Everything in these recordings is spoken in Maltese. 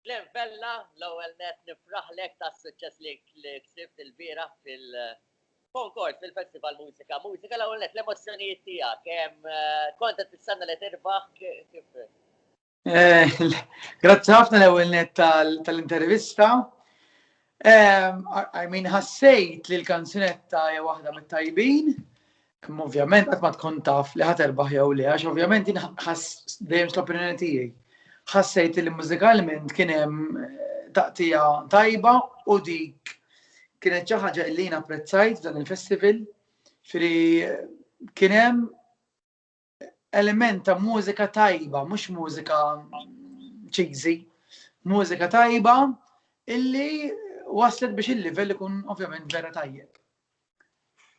Glenn Vella, l-ewwel net nifraħlek tas-suċċess li ksibt il-bieraħ fil-konkors fil-Festival Mużika Mużika. L-ewwel net l-emozzjonijiet tiegħek, kont qed tistenna li tirbaħ kif? Grazzi ħafna l-ewwel net tal-intervista. I mean, ħassejt li l-kanzunetta hija waħda mit-tajbin. Ovvjament qatt ma tkun taf li ħadd erbaħ jew le, għax ovvjament jien ħass dejjem l-opinjoni tiegħi. Ħassejt li mużikalment kien hemm taqtija tajba u dik kienet xi ħaġa li jien apprezzajt f'dan il-festival. Firri kien hemm element ta' mużika tajba, mhux mużika cheesy, mużika tajba illi waslet biex il-livell ikun ovvjament vera tajjeb.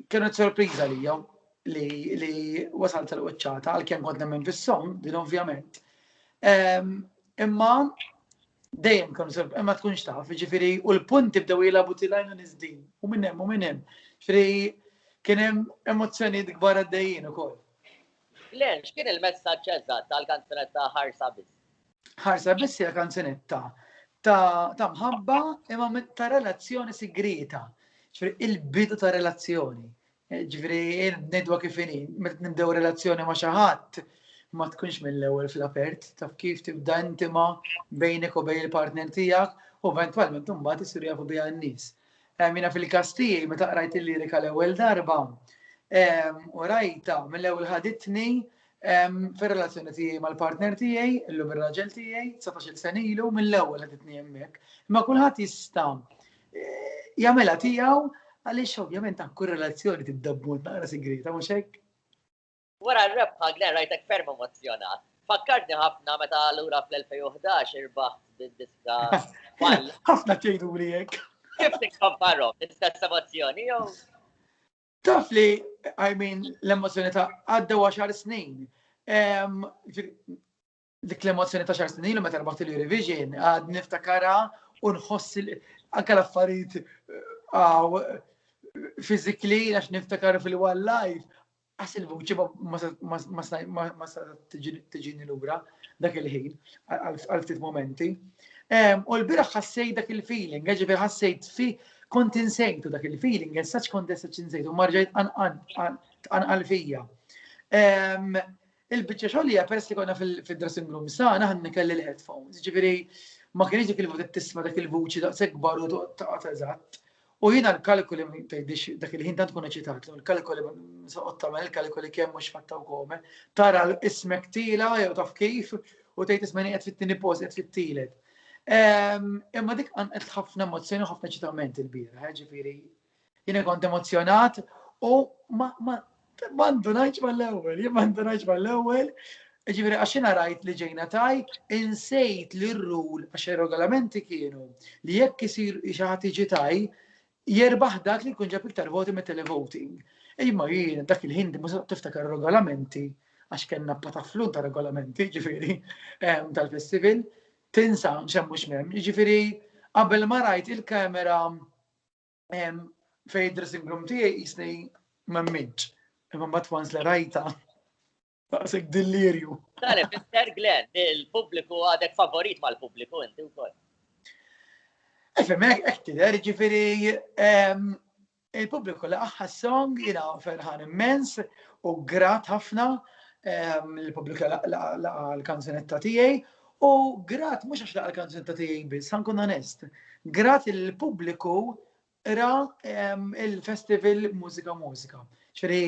Kienet sorpriża li jom li, li wasalt tal-qoċċata, għal-kem kont nemmen fis-song, din ovvjament. Ehm, imma Dejjem kemm seb, imma tkunx taf, ġifieri, u l-punti bdew jilagħbu tilajn u niżdin, u minn hemm u minn hemm. Ġifieri kien hemm emozzjonijiet kbar għaddejjin ukoll. Glenn, x'kien il-messaġġ eżatt tal-kanzunetta Ħarsa Biss? Ħarsa Biss hija kanzunetta ta' mħabba imma ta' relazzjoni sigrieta. Ġifieri il-bidu ta' relazzjoni. Ġifieri ngħidwa kif inhi, meta nibdew relazzjoni ma' xi ħadd, ma tkunx mill-ewwel fl-apert, taf kif tibda intima bejnek u bejn il-partner tiegħek u eventwalment imbagħad isiru jafu biha n-nies. Mina fil-każ tiegħi meta qrajt il-lirika l-ewwel darba u rajta mill-ewwel ħaditni Fir-relazzjoni tiegħi mal-partner tiegħi, illum ir-raġel tiegħi, 19-il sen ilu, mill-ewwel qed itni hemmhekk. Imma kulħadd jista' eh, jagħmilha tiegħu għaliex ovvjament ta' kull relazzjoni tibda b'mod naqra sigrieta mhux hekk. Wara r-rebħa Glenn rajtek ferm emozjonat. Fakkartni ħafna meta lura fl-2011 irbaħ bid-diska. Ħafna tgħidu li hekk. Kif tikkomparhom l-istess emozzjoni jew? Taf li, I mean, l-emozjoni ta' għadda għaxar snin. Dik l-emozjoni ta' xar snin li meta rbaħt il-Eurovision, għad niftakara u nħoss anka l-affarijiet għaw fizikli għax niftakar fil-one life. Għas il-vuċi ma sa tiġini l-ura dak il-ħin, għal-ftit momenti. U l-biraħ ħassej dak il-feeling, ġifir ħassejt fi Kont insejtu dak il-feeling, and such kont dessa ċinsejtu, marġajt tqanqal fija. Il-bicċa xolija, peress li konna fil-dressing room sana, ħanna kelli l-headphones, ġifiri, ma kienx dik il-vot tisma dak il-vuċi daqs ekbar u taqat eżatt. U jina l-kalkoli ma jtajdix dak il-ħin tant kun eċitat, l-kalkoli soqgħod tagħmel il-kalkoli kemm mhux fatta u kome, tara l-ismek tila jew taf kif u tgħid ismeni qed fit-tieni post qed fit-tielet. Imma dik għanqet ħafna emozzjoni u ħafna ċitament il-bira, eh, ġifiri, jina kont emozjonat u ma ndunajċ ma l-ewel, jien ma ndunajċ ma l-ewel, ġifiri, għaxina rajt li ġejna taj, insejt li r-rul, għax regolamenti kienu, li jekk isir xaħat iġi taj, Jerbaħ dak li jkun ġab iktar voti mit-televoting. Imma jien dak il-ħin di mużat tiftakar regolamenti għax kellna pataflun ta' regolamenti, ġifiri, ehm, tal-festival, tinsa xemmu xmem, ġifiri, qabel ma rajt il-kamera ehm, fej dressing room tijaj jisni memminċ, imma bat once li rajta. Daqsek dillirju. Dan ifisser Glenn, il-pubbliku għadek favorit mal-pubbliku inti wkoll. Efem, hekk tidher, ġifieri ehm, il-pubbliku li aħħa song jiena ferħan immens u grat ħafna ehm, l-pubbliku l-kanzunetta tiegħi u grat mhux għax laqgħa l-kanzunetta tiegħi biss, ħankun onest. Grat il-pubbliku Ra il-festival Mużika Mużika. Ċri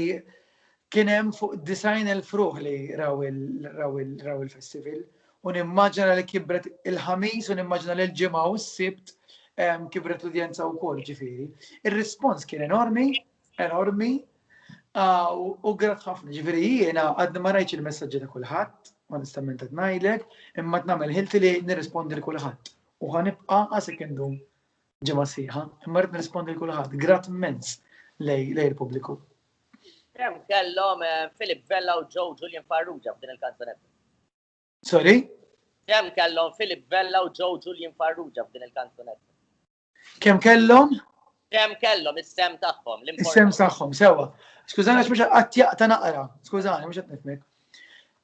kienem fuq design il-fruħ li raw il-festival. U nimmaġina li kibret il-ħamis u nimmaġina li l-ġimgħa u s-sibt kibret l-udjenza u kol ġifiri. Il-respons kien enormi, enormi, u grat ħafna ġifiri jiena għadni ma rajċ il-messagġi ta' kullħat, onestament għad najdlek, imma t-namel ħilti li nirrispondi l-kullħat. U ħanibqa għasek indum ġimgħa sħiħa, imma rrid nirrispondi l-kulħadd, grat immens lej il-pubbliku. Kem kellhom eh, Philip Vella u Joe Julian Farrugia f'din il-kanzonetta? Sorry? Kem kellhom Philip Vella u Joe Julian Farrugia f'din il-kanzonetta? Kem kellhom? Kem kellhom is-sem tagħhom. Is-sem tagħhom, sewa. Skużani għax mhux qatt jaqta' naqra. Skużani mhux qed nifmek.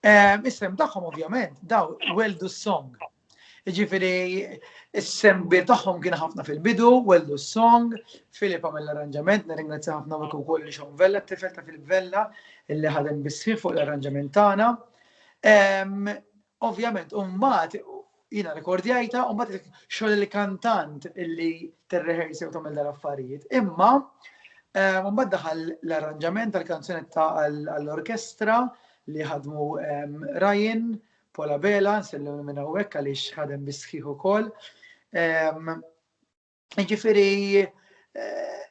Ehm, is-sem tagħhom ovvjament daw weldu s-song. Ġifiri, s-sembi tagħhom kien ħafna fil-bidu, wellu s-song, Filip għamil l-arranġament, nirringrazzja ħafna u wkoll li xon Vella, t-tifel ta' Filip Vella, illi ħadem bisħiħ fuq l-arranġament tagħna. Ovvjament, umbat, jina rekordjajta, umbat xogħol il-kantant illi t-rehersi u tagħmel dal-affarijiet. Imma, umbat daħal l-arranġament tal-kanzunetta għall-orkestra li ħadmu Ryan, Paul Abela, nsellem minn hawnhekk għaliex ħadem bis-sħiħ ukoll. Ehm, jiġifieri eh,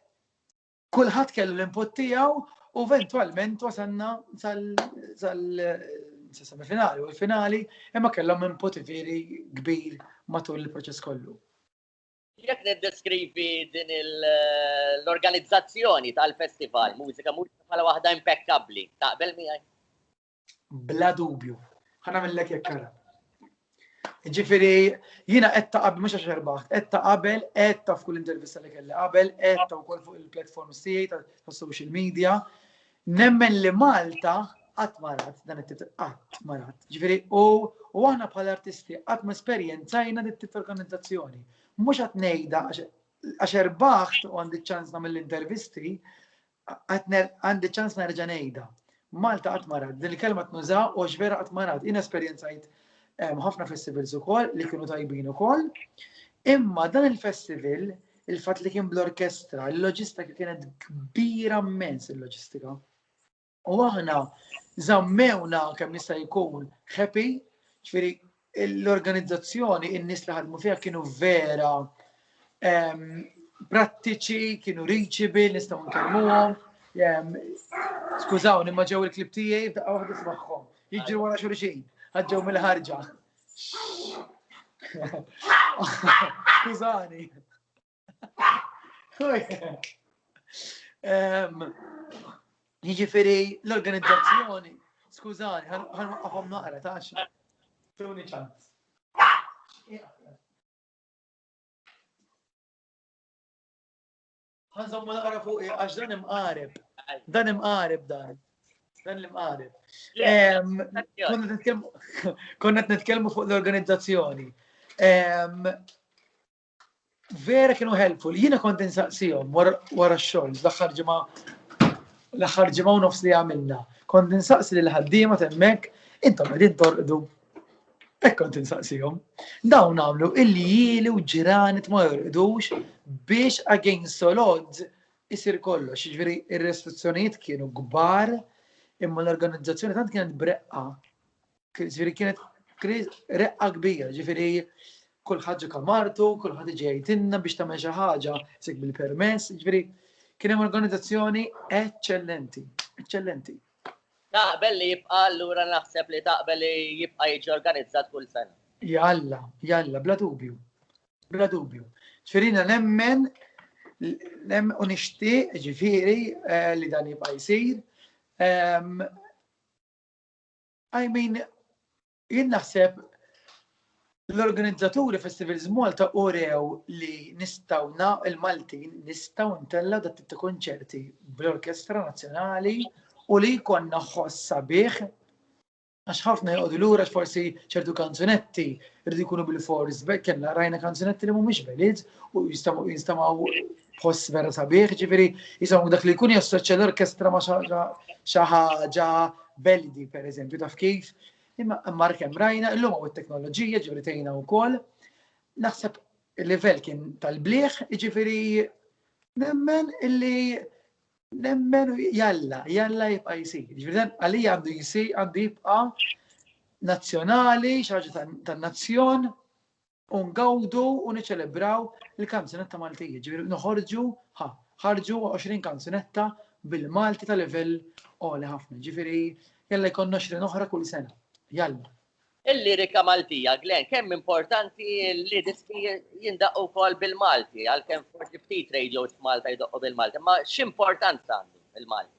kulħadd kellu l-input tiegħu u eventualment wasanna sal-semifinali u l-finali imma kellhom input veri kbir matul il-proċess kollu. Jek niddeskrivi din eh, l-organizzazzjoni tal-festival, mużika mużika bħala waħda impeccabli, taqbel miegħi? Bla dubju. Ħana millek jekk kara. Ġifiri, jina etta qabel, mux għax erbaħt, etta qabel, etta f'kull intervista li kelli qabel, etta u fuq il-platforms tiegħi ta' social media, nemmen li Malta qatt marat dan it-tip qatt marat. Ġifieri u u aħna bħal artisti qatt ma esperjenzajna dit tip organizzazzjoni. Mhux qed ngħidha għax erbaħt u għandi ċans nagħmel l-intervisti, Għandi ċans nerġa' ngħidha. Malta qatt ma rat, din il-kelma tnuża u għax vera qatt ma rat. Jien esperjenzajt ehm, ħafna festivals ukoll li kienu tajbin ukoll. Imma dan il-festival, il-fatt li kien bl-orkestra, il-loġistika kienet kbira mmens il-loġistika. U aħna zammewna kemm jista' jkun happy, ġifieri l-organizzazzjoni, in-nies li ħadmu fiha kienu vera ehm, prattiċi, kienu reachable, nistgħu nkellmuhom. Ehm, skużawni, ma ġew il-klib tiegħi f'daqqa waħda smaħħom. Jiġri wara xulxin, ħaġġew mill-ħarġa. Skużani. Jiġifieri l-organizzazzjoni, skużani, ħan waqqafhom naqra ta' Tuni ċans. Għanżommu naqra fuq eh, għax dan imqareb. Dan imqareb dan. Dan l-imqareb. Konna t-netkelmu fuq l-organizzazzjoni. vera kienu helpful. Jiena kont insaqsihom wara x-xogħol l-aħħar ġimgħa l-aħħar ġimgħa u nofs li għamilna. Kont insaqsi lil ħaddiema temmek, intom qegħdin torqdu. Hekk kont insaqsihom. Dawn għamlu illi jili u ġranet ma jorqdux biex against solod isir kollox. Ġifieri ir-restrizzjonijiet kienu kbar imma l-organizzazzjoni tant kienet breqqa Ġifieri kienet reqqa kbira, ġifieri kull ħaġa kamartu, kull ħadd iġi jgħidilna biex tagħmel xi ħaġa sik bil-permess, ġifieri kien hemm organizzazzjoni eċċellenti, eċċellenti. Taqbel li jibqa' allura naħseb li taqbel li jibqa' jiġi organizzat kull sena. Jalla, jalla, bla dubju. Bla dubju. Ġifirina nemmen nem u nixtieq ġifieri eh, li dan jibqa' jsir. Ehm, I mean, jien naħseb l-organizzaturi Festivals Malta urew li nistaw na il-Maltin nistaw ntella dat ta' konċerti bl-Orkestra Nazzjonali u li jkonna ħossa bih għax ħafna jgħodu lura forsi ċertu kanzunetti rridu jkunu bil-fors kellna rajna kanzunetti li mhumiex belid u jinstamaw post vera sabiħ, ġifiri, jisamu dak li jkun jassoċja l-orkestra ma xaħġa beldi, per eżempju, taf kif. Imma markem rajna, illum u t-teknoloġija ġifiri tejna u kol, naħseb il-level kien tal-bliħ, ġifiri, nemmen illi nemmen jalla, jalla jibqa jisir. Ġifiri, għalija għandu jisir, għandu jibqa nazjonali, xaġa tan-nazzjon, u ngawdu u niċelebraw il-kanzunetta Maltija, ġifieri noħorġu ħa, ħarġu 20 kanzunetta bil-Malti ta' livell għoli ħafna, ġifieri jalla jkun 20 oħra kull sena. Jalla. Il-lirika Maltija, Glenn, kemm importanti li diski jindaqqu wkoll bil-Malti, għalkemm forsi ftit radios f'Malta jdoqqu bil-Malti, ma x'importanza għandu il-Malti?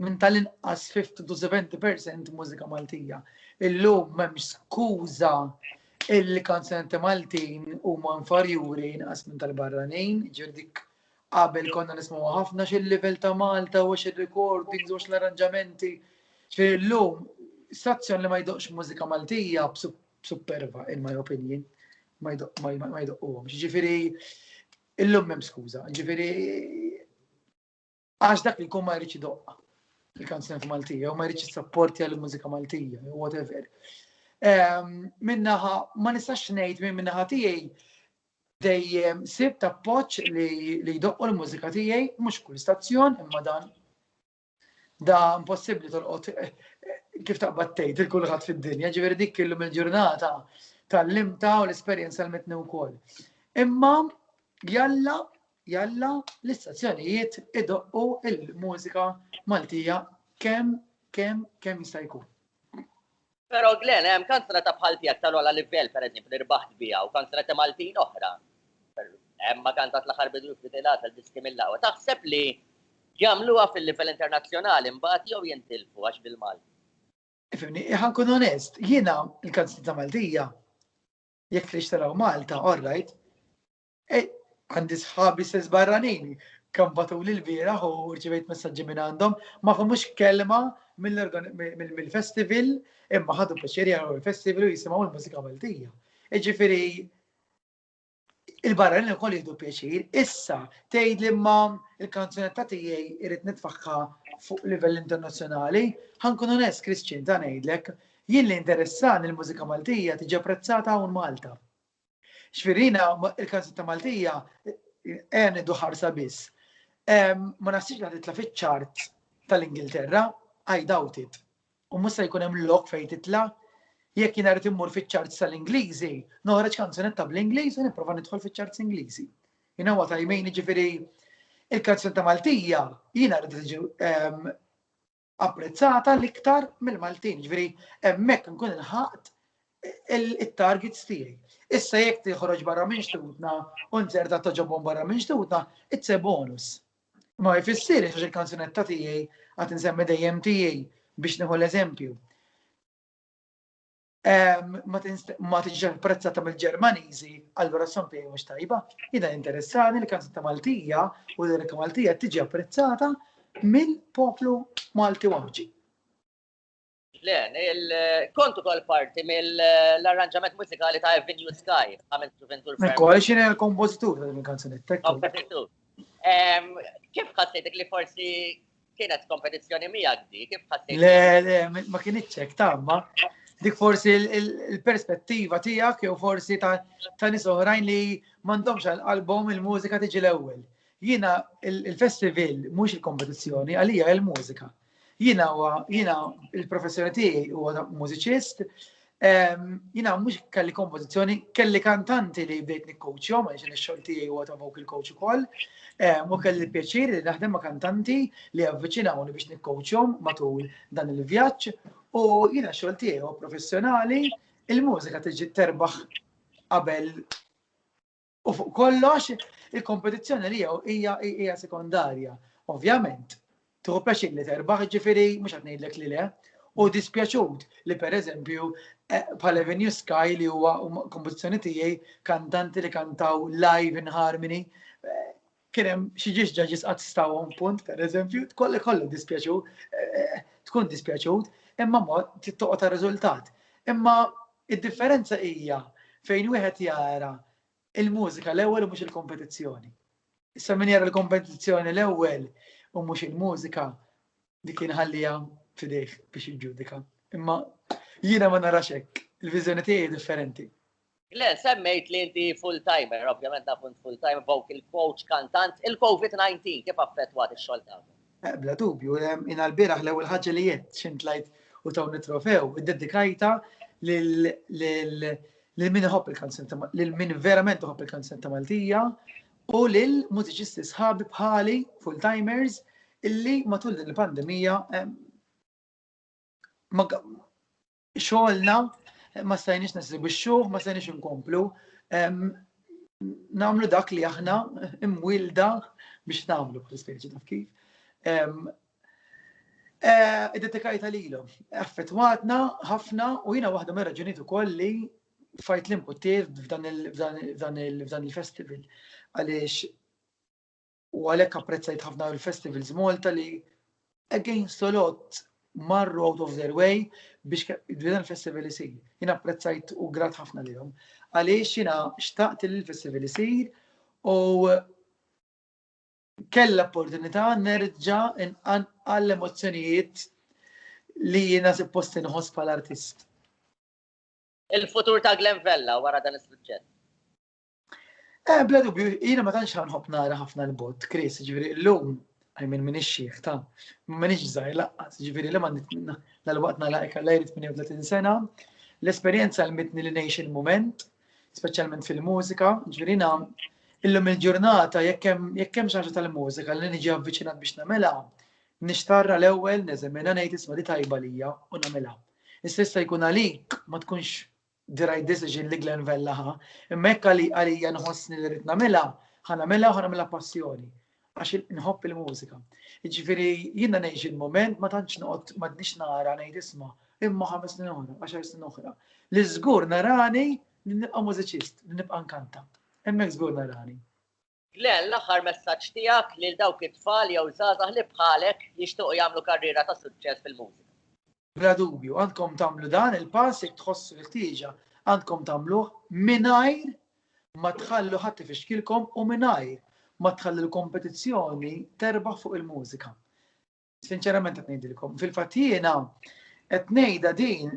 minn tal-inqas 50 to 70 percent mużika Maltija. Illum m'hemmx skuża illi kanzenti Maltin huma infarjuri inqas minn tal-barranin, ġifieri dik qabel konna nismgħu ħafna xil-livell ta' Malta u xir-recordings u l-arranġamenti. Ġifieri llum stazzjon li ma jdoqx mużika Maltija superva in my opinion ma jdoqquhom. Ġifieri illum m'hemm skuża. Ġifieri Għax dak li jkun ma jridx idoqqa fil-kanzunet Maltija, u ma jridx jissapportja l-mużika Maltija, u whatever. Ehm, minnaħa, ma nistax ngħid minn minnaħa tiegħi dejjem sib ta' poċ li jdoqqu l-mużika tiegħi mhux kull stazzjon imma dan da impossibbli tolqot eh, eh, kif taqbad tgħid il kulħadd fid-dinja, ġifieri dik illum il-ġurnata tal-limta u l-esperjenza l-mitni wkoll. Imma jalla Jalla l-istazzjonijiet idoqqu il-mużika Maltija kemm kemm kemm jista' jkun. Però Glen, hemm kanzunetta bħal tiegħek tal-ogħla livell pereżempju li rbaħt biha u kanzunetti Maltin oħra. Emma kantat l-aħħar bidu jifridi l-għasel diski mill-aqwa. Taħseb li jagħmluha fil-livell internazzjonali mbagħad jew jintilfu għax bil-Malti? Ifhimni, ħa nkun onest, jiena l-kanzunetta Maltija jekk tridx taraw Malta, all right, Ej, għandi sħabi sess barranin, kam batuli l-bieraħ u rċivejt messaġġi minn għandhom, ma famux kelma mill-festival imma ħadu pjaċeri għal il-festival u jisimaw il-mużika Maltija. Iġifiri, il-barra li kol jihdu pjaċir, issa tgħid li ma il-kanzunetta tiegħi irrit nitfaħħa fuq livell internazzjonali, ħankun onest Christian ta' ngħidlek, jien li interessan il-mużika Maltija tiġi apprezzata hawn Malta. Xfirina, il-kansetta Maltija, għen idu ħarsa biss. Ma nasibx li titla fiċ-ċart tal-Ingilterra, I doubt it. U mus se jkun hemm lok fejn titla. Jekk jien rrid immur fiċ-ċart tal-Ingliżi, noħroġ kanzunetta bl-Ingliż u nipprova nidħol fiċ-ċart Ingliżi. You know what I mean, ġifieri il-kanzunetta Maltija jiena rrid tiġi apprezzata l-iktar mill-Maltin. Ġifieri hemmhekk nkun ilħaqt it-targets tiegħi. Issa jekk tiħroġ barra minn xtutna u nzerta toġobhom barra minn xtutna, it's a bonus. Ma jfissir għax il-kanzunetta tiegħi għad insemmi dejjem tiegħi biex nieħu l-eżempju. ma tiġix apprezzata mill-Ġermaniżi, allura s-sampi mhux tajba. Jina interessani li kanzetta Maltija u l-lirika Maltija tiġi apprezzata mill-poplu Malti Wamġi. Le, kontu kol parti mill-arranġament mużikali ta' Avenue Sky, għamilt Juventur Fair. Kol xini l-kompozitur ta' din kanzunetta. Kompozitur. Kif ħassejtek li forsi Kienet kompetizzjoni miegħek di, kif ħassejt? Le, le, ma kienitx hekk tamma. Dik forsi il-perspettiva tiegħek jew forsi ta' nies oħrajn li m'għandhomx għal album il-mużika tiġi l-ewwel. Jiena il-festival mhux il-kompetizzjoni għalija il-mużika. Jiena huwa jiena il-professjoni tiegħi huwa mużiċist, Jina mux kelli kompozizjoni, kelli kantanti li bdejt nikkoċjom, għaxin il-xolti u għata vocal coach u koll, u kelli pjaċir li naħdem ma' kantanti li għavviċinawni biex nikkoċjom matul dan il-vjaċ, u jina xolti u professjonali, il-mużika tiġi terbaħ qabel U fuq kollox, il-kompetizzjoni li jew hija hija sekondarja. Ovvjament, tieħu pjaċir li terbaħ ġifieri mhux qed ngħidlek li le, u dispjaċut li pereżempju eh, bħal Avenue Sky li huwa kompetizzjoni tiegħi kantanti li kantaw live in harmony eh, kien hemm xi ġiġġa ġisqat stawhom punt, pereżempju, tkolli kollu dispjaċu, tkun dispjaċut, imma mod tittoqgħod ta' riżultat. Imma id-differenza hija fejn wieħed jara il-mużika l-ewwel u mhux il-kompetizzjoni. Issa min jara l-kompetizzjoni l-ewwel u mhux il-mużika, Dik inħallija fidejh biex jiġġudika. Imma jiena ma narax hekk, il-viżjoni tiegħi differenti. Le, semmejt li inti full-timer, ovvjament naf int full-time vocal coach, kantant, il-COVID-19 kif affettwat ix-xogħol tagħkom? Eh, bla dubju, eh, in l-biraħ l-ewwel ħaġa li jett xint lajt u tawni trofew, id-dedikajta lil min iħobb il-kanzun lil min verament iħobb il-kanzun ta' Maltija, u lil mużiċisti sħabi bħali, full-timers, illi matul din il-pandemija xogħolna ma stajniex nesibixxuh, ma stajniex inkomplu nagħmlu dak li aħna imwilda biex nagħmlu bħal speċi taf kif. Eh, Id-detikajta lilhom. Affettwatna ħafna u jiena waħda mir-raġunijiet ukoll li fajt li mputir f'dan il-festival. Għaliex u għalhekk apprezzajt ħafna l-festivals Malta li against a lot marru out of their way biex dan il-festival isir. Jina apprezzajt u grat ħafna li jom. Għaliex jina xtaqt li l-festival isir u kella opportunità nerġa għall-emozzjonijiet li jina se posti nħos pal-artist. Il-futur ta' Glen Vella wara dan is-suċċess. Eh, bla dubju, jiena ma tantx ħanħobb nara ħafna l-bot, Chris, ġifieri llum għajmin minn ix-xieħ ta' minn iġżaj laqqas, ġifieri li ma l-waqt nalaqek għal jrid 38 sena, l-esperjenza l-mitni li ngħix il-moment, speċjalment fil-mużika, ġifieri illum il-ġurnata jekk hemm xi tal-mużika li niġi avviċinat biex nagħmilha, nixtarra l-ewwel neżemina ngħid isma' li tajba lija u nagħmilha. Issa jista' jkun għalik ma tkunx the right decision li Glen Vella ħa, imma jekk għalija nħossni li rrid nagħmilha, ħa nagħmilha u ħa nagħmilha passjoni għax nħobb il-mużika. Jiġifieri jiena ngħix il-mument ma tantx noqgħod m'għadniex nara ngħid isma' imma ħames snin oħra, għaxar snin oħra. Li żgur narani li nibqa' mużiċist, li nibqa' nkanta. Hemmhekk żgur narani. Glenn, l-aħħar messaġġ tiegħek lil dawk it-tfal jew żgħażagħ li bħalek jixtiequ jagħmlu karriera ta' suċċess fil-mużika? Bla dubju, għandkom tagħmlu dan il-pass jekk tħossu l-ħtieġa. Għandkom tagħmluh mingħajr ma tħallu ħadd ifixkilkom u mingħajr ma tħallu l-kompetizzjoni terbaħ fuq il-mużika. Sinċerament qed ngħidilkom, fil-fatt jiena qed ngħidha din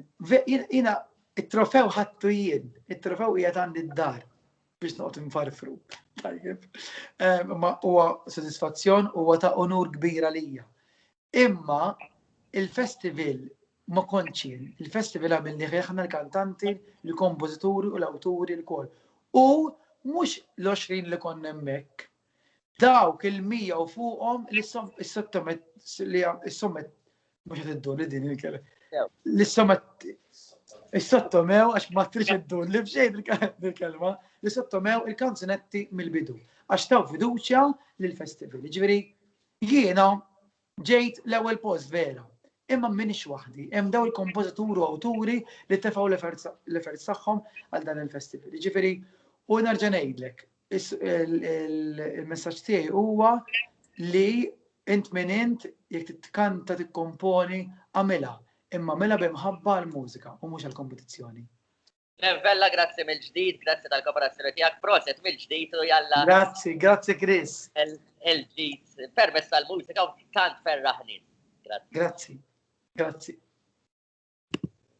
jiena it-trofew ħattu jien, it-trofew qiegħed għandi d-dar biex noqgħod infarfru. Tajjeb. Ehm, ma huwa sodisfazzjon huwa ta' unur kbira lija. Imma il-festival ma konċin, il-festival għamilni ħeħna l-kantanti, l-kompożituri u l-awturi l-kol. U mux l-20 li konna emmek, Dawk il-100 u fuqhom li s-sommet li s-sommet mhux qed iddur li din il-kelma. Li s-sommet is-sottomew għax ma trix iddur li b'xejn il-kelma li sottomew il-kanzunetti mill-bidu għax taw fiduċja lill-festival. Ġifieri jiena Ġejt l-ewwel post vera. Imma m'iniex waħdi, hemm daw il-kompożituri u awturi li tefgħu l-efforts tagħhom għal dan il-festival. Jiġifieri, u nerġa' ngħidlek, il-messaġġ tiegħi huwa li int min int jekk titkanta tikkomponi għamilha, imma għamilha b'imħabba għall-mużika u mhux għall-kompetizzjoni. Glenn Vella, grazzi mill-ġdid, grazzi tal-kooperazzjoni tiegħek, proset mill-ġdid u jalla. Grazzi, grazzi Chris. Il-ġdid, permess tal-mużika u tant ferraħni. Grazzi. Grazzi.